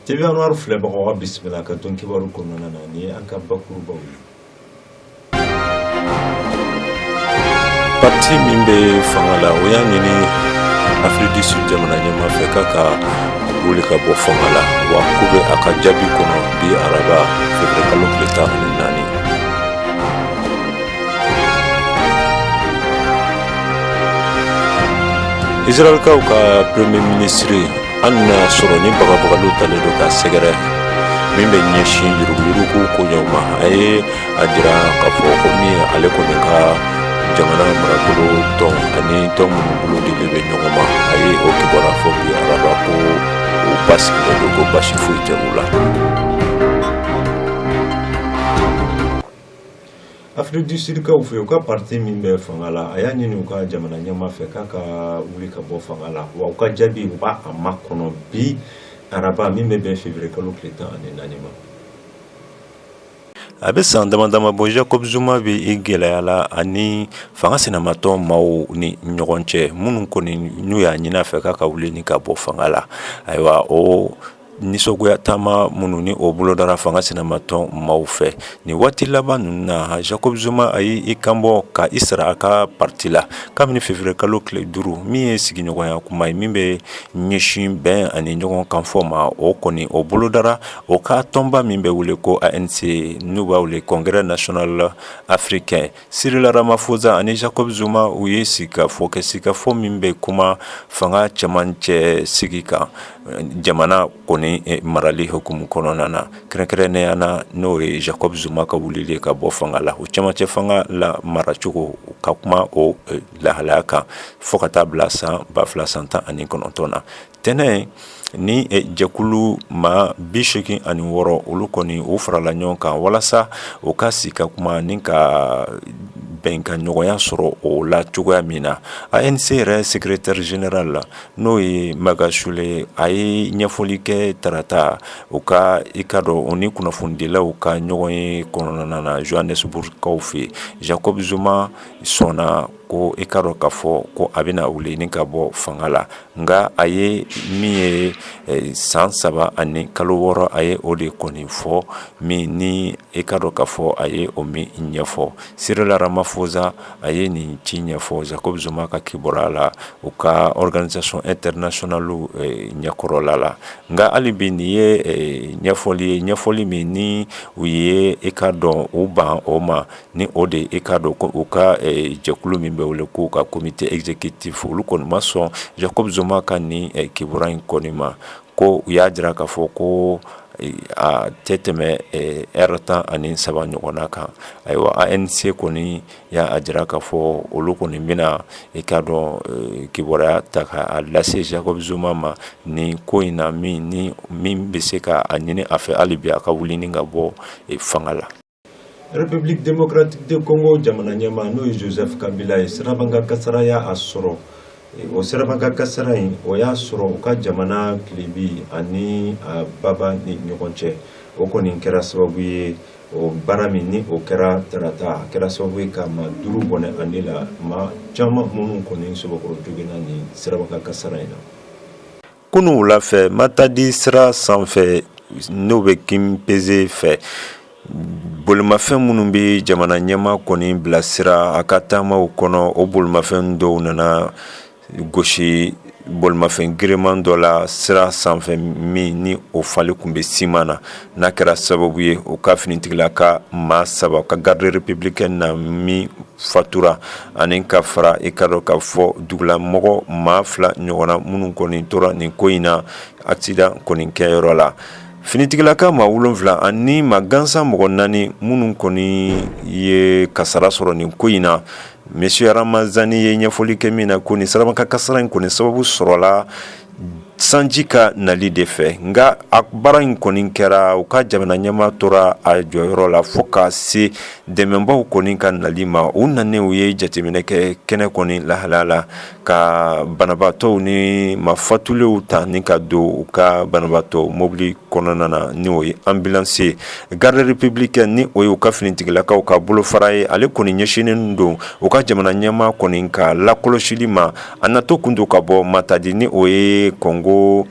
TV Anwar filɛbagaw ka bisimila ka don kibaru kɔnɔna na ni an ka bakurubaw ye parti min bɛ fanga la o y'a ɲini Afiriki du Sud jamana ɲɛmaa fɛ k'a ka wuli ka bɔ fanga la wa k'u bɛ a ka jaabi kɔnɔ bi araba février kalo tile tan ani naani israɛlkaw ka premier minisiri Hali n'a sɔrɔ ni bagabagaliw taalen don k'a sɛgɛrɛ min bɛ ɲɛsin yuruguyurugu koɲɛw ma a ye a jira k'a fɔ ko min ale kɔni ka jamana marabolo tɔn ani tɔn minnu bolo dilen bɛ ɲɔgɔn ma a ye o kibaruya fɔ bi araba ko u basigilen don ko basi foyi tɛ u la Afiriki du Sud kaw fɛ, u ka parti min bɛ fanga la, a y'a ɲini u ka jamana ɲɛmaa fɛ k'a ka wuli ka bɔ fanga la, wa u ka jaabi u b'a a makɔnɔ bi araba min bɛ bɛn février kalo tile tan ani naani ma. A bɛ san damadama bɔ Jacob Zuma bɛ i gɛlɛya la ani fanga sinamatɔn maaw ni ɲɔgɔn cɛ minnu kɔni n'u y'a ɲini a fɛ k'a ka wuli ni ka bɔ fanga la, ayiwa o nisɔngoya taama minnu ni o bolodara fanga sinamatɔn maaw fɛ nin waati laban ninnu na Jacob Zuma a y'i kanbɔ ka i sara a ka parti la kabini février kalo tile duuru min ye sigiɲɔgɔnya kuma ye min bɛ ɲɛsin bɛn ani ɲɔgɔn kanfɔ ma o kɔni o bolodara o ka tɔnba min bɛ wele ko ANC n'u b'a wele congrès national africain Cyril Ramaphosa ani Jacob Zuma u ye sigikafɔ kɛ sigikafɔ min bɛ kuma fanga cɛmancɛ sigi kan jamana kɔni eh, marali hukumu kɔnɔna na kɛrɛnkɛrɛnnenya na n'o ye Jacob Zuma ka wulili ka bɔ fanga la o cɛmancɛ fanga la maracogo ka kuma o eh, lahalaya kan fo ka taa bila san ba fila san tan ani kɔnɔntɔn na tɛnɛn ni eh, jɛkulu maa bi seegin ani wɔɔrɔ olu kɔni u farala ɲɔgɔn kan walasa u ka sigi ka kuma ni ka bɛnkan ɲɔgɔnya sɔrɔ o la cogoya min na anc yɛrɛ secrétaire général la n'o ye Magashule a ye ɲɛfɔli kɛ tarata u ka i ka dɔn u ni kunnafonidilaw ka ɲɔgɔn ye kɔnɔna na johannesburgkaw fɛ jacob zuma sɔnna ko i k'a dɔn k'a fɔ ko a bɛna wuli ni ka bɔ fanga la nka a ye min ye san saba ani kalo wɔɔrɔ a ye o de kɔni fɔ min ni i k'a dɔn k'a fɔ a ye o min ɲɛfɔ Cyril Ramaphosa a ye nin ci ɲɛfɔ Jacob Zuma ka kibaruya la u ka organisation internationale ɲɛkɔrɔla la nka hali bi nin ye ɲɛfɔli ye ɲɛfɔli min ni u ye i k'a dɔn u ban o ma ni o de i k'a dɔn ko u ka jɛkulu min bɛ wele k'u ka comité exécutif olu kɔni ma sɔn Jacob Zuma ka nin kibaruya in kɔni ma ko u y'a jira k'a fɔ ko a tɛ tɛmɛ ɛri tan ani saba ɲɔgɔnna kan ayiwa ANC kɔni y'a jira k'a fɔ olu kɔni bɛna i k'a dɔn kibaruya ta k'a lase Jacob Zuma ma ni ko in na min bɛ se k'a ɲini a fɛ hali bi a ka wuli ni ka bɔ fanga la République démocratique de Congo jamana ɲɛmaa n'o ye Joseph Kabila ye sirabanka kasara y'a sɔrɔ o sirabanka kasara in o y'a sɔrɔ u ka jamana tilebi ani baba ni ɲɔgɔn cɛ o kɔni kɛra sababu ye o baara min ni o kɛra tarata a kɛra sababu ye ka maa duuru bɔnɛ a ni la maa caman minnu kɔni sɔbɛkɔrɔ joginna nin sirabanka kasara in na Kunun wula fɛ Matadi sira sanfɛ n'o bɛ Kimpese fɛ bolimafɛn minnu bɛ jamana ɲɛmaa kɔni bilasira a ka taamaw kɔnɔ o bolimafɛn dɔw nana gosi bolimafɛn giriman dɔ la sira sanfɛ min ni o falen tun bɛ siman na n'a kɛra sababu ye o ka finitigilaka maa saba ka garde républicaine na min fatura ani ka fara i ka dɔn k'a fɔ dugulamɔgɔ maa fila ɲɔgɔnna minnu kɔni tora nin ko in na accident kɔni kɛyɔrɔ la finitigilaka maa wolonwula ani maa gansan mɔgɔ naani minnu kɔni ye kasara sɔrɔ nin ko in na Monsieur Ramazani ye ɲɛfɔli kɛ min na ko nin sirabanka kasara in kɔni sababu sɔrɔla sanji ka nali de fɛ nka a baara in kɔni kɛra u ka jamana ɲɛmaa tora a jɔyɔrɔ la fo ka se dɛmɛbaaw kɔni ka nali ma u nanen u ye jateminɛ kɛ kɛnɛ kɔni lahala la ka banabaatɔw ni maa fatulenw ta ni ka don u ka banabaatɔ mobili kɔnɔna na ni o ye ambulance garde républicaine ni o ye u ka finitigilakaw ka bolofara ye ale kɔni ɲɛsinnen don u ka jamana ɲɛmaa kɔni ka lakɔlɔsili ma A natɔ kun don ka bɔ Matadi ni o ye Congo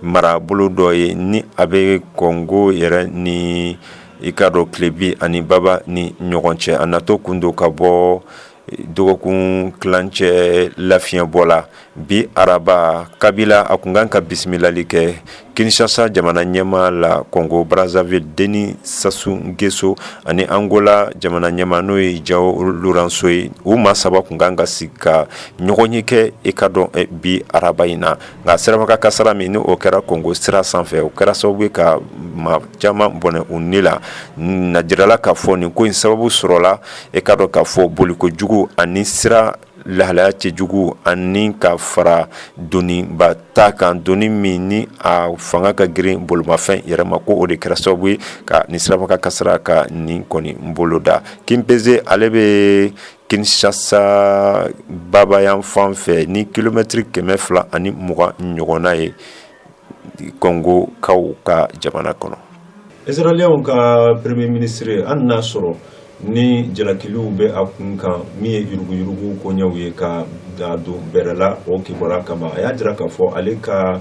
marabolo dɔ ye ni a bɛ Congo yɛrɛ ni i ka dɔn tilebin ani baba ni ɲɔgɔn cɛ a natɔ kun don ka bɔ dɔgɔkun tilancɛ lafiɲɛbɔ la bi araba Kabila a kun kan ka bisimilali kɛ Kinshasa jamana ɲɛmaa la Congo Brazzaville Denis Sassou N'Guesso ani Angola jamana ɲɛmaa n'o ye João Lourenço ye u maa saba kun kan ka sigi ka ɲɔgɔnye kɛ i ka dɔn bi araba in na nka sirabanka kasara min ni o kɛra Congo sira sanfɛ o kɛra sababu ye ka maa caman bɔnɛ u ni la n'a jirala k'a fɔ nin ko in sababu sɔrɔla i ka dɔn k'a fɔ bolikojugu ani sira lahalaya cɛjugu ani ka fara doniba ta kan doni min ni a fanga ka girin bolimafɛn yɛrɛ ma ko o de kɛra sababu ye ka nin siraba kan kasara ka nin kɔni boloda Kimpese ale bɛ Kinshasa baba yan fan fɛ ni kilomɛtiri kɛmɛ fila ani mugan ɲɔgɔnna ye Kɔngokaw ka jamana kɔnɔ israɛliyɛnw ka premier ministre an n'a sɔrɔ ni jalakiliw bɛ a kun kan min ye yuruguyurugu koɲɛw ye ka a don bɛrɛla o kibaru kama a y'a jira k'a fɔ ale ka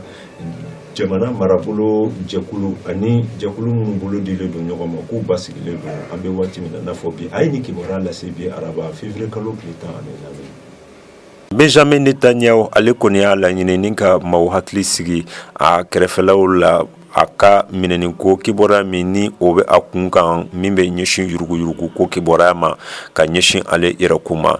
jamana marabolo jɛkulu ani jɛkulu minnu bolo dilen don ɲɔgɔn ma k'u basigilen don an bɛ waati min na n'a fɔ bi a ye ni kibaruya lase bi araba février kalo tile tan Benjamin Netanyahu ale kɔni y'a laɲini ni ka maaw hakili sigi a kɛrɛfɛlaw la a ka minɛni ko kibaruya min ni o bɛ a kun kan min bɛ ɲɛsin yuruguyurugu ko kibaruya ma ka ɲɛsin ale yɛrɛkun ma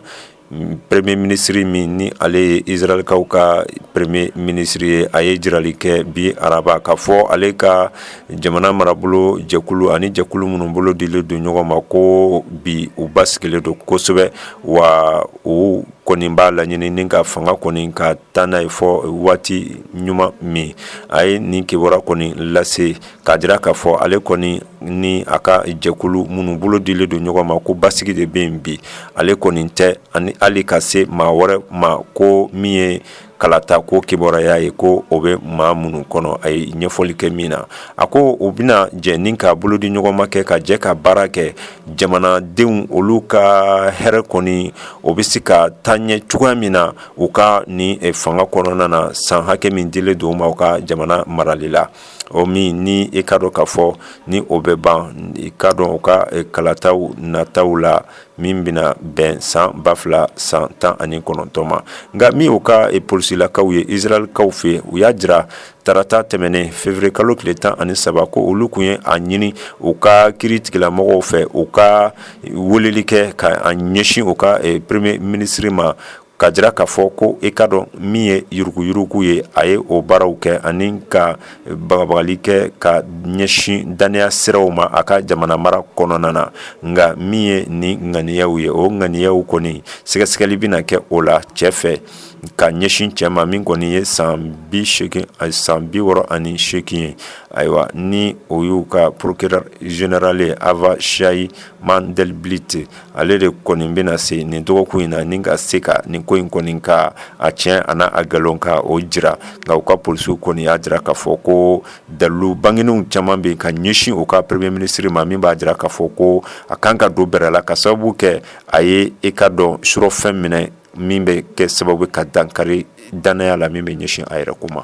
premier ministre min ni ale ye israelkaw ka premier ministre ye a ye jirali kɛ bi araba k'a fɔ ale ka jamana marabolo jɛkulu ani jɛkulu minnu bolo dilen don ɲɔgɔn ma ko bi u basigilen don kosɛbɛ wa o kɔni b'a laɲini ni ka fanga kɔni ka taa n'a ye fo waati ɲuman min a ye nin kibaru kɔni lase k'a jira k'a fɔ ale kɔni ni a ka jɛkulu minnu bolo dilen don ɲɔgɔn ma ko basigi de bɛ yen bi ale kɔni tɛ ani hali ka se maa wɛrɛ ma ko min ye kalata ko kibaruya ye ko o bɛ maa minnu kɔnɔ a ye ɲɛfɔli kɛ min na a ko u bɛna jɛ ni ka bolo di ɲɔgɔn ma kɛ ka jɛ ka baara kɛ jamanadenw olu ka hɛrɛ kɔni o bɛ se ka taa ɲɛ cogoya min na u ka ni fanga kɔnɔna na san hakɛ min dilen don u ma u ka jamana marali la o min ni i k'a dɔn k'a fɔ ni o bɛ ban i k'a dɔn u ka kalataw nataw la min bɛna bɛn san ba fila san tan ani kɔnɔntɔn ma nka min u ka polisilakaw ye israelkaw fɛ u y'a jira tarata tɛmɛnen février kalo tile tan ani saba ko olu kun ye a ɲini u ka kiritigɛla mɔgɔw fɛ u ka weleli kɛ ka ɲɛsin u ka premier ministre ma ka jira k'a fɔ ko i k'a dɔn min ye yuruguyurugu ye a ye o baaraw kɛ ani ka bagabagali kɛ ka ɲɛsin dannaya siraw ma a ka jamana mara kɔnɔna na nka min ye ni ŋaniyaw ye o ŋaniyaw kɔni sɛgɛsɛgɛli bɛna kɛ o la cɛ fɛ ka ɲɛsin cɛ ma min kɔni ye san bi wɔɔrɔ ani seegin ye ayiwa ni o y'u ka procureur général ye Avichai Mandelblit ale de kɔni bɛna se nin dɔgɔkun in na ni ka se ka nin ko in kɔni ka a tiɲɛ an'a nkalon ka o jira nka u ka polisiw kɔni y'a jira k'a fɔ ko dalilu bangenenw caman bɛ ka ɲɛsin u ka premier ministre ma min b'a jira k'a fɔ ko a kan ka don bɛrɛ la ka sababu kɛ a ye i k'a dɔn surɔfɛn minɛ min bɛ kɛ sababu ka dankari dannaya la min bɛ ɲɛsin a yɛrɛ ko ma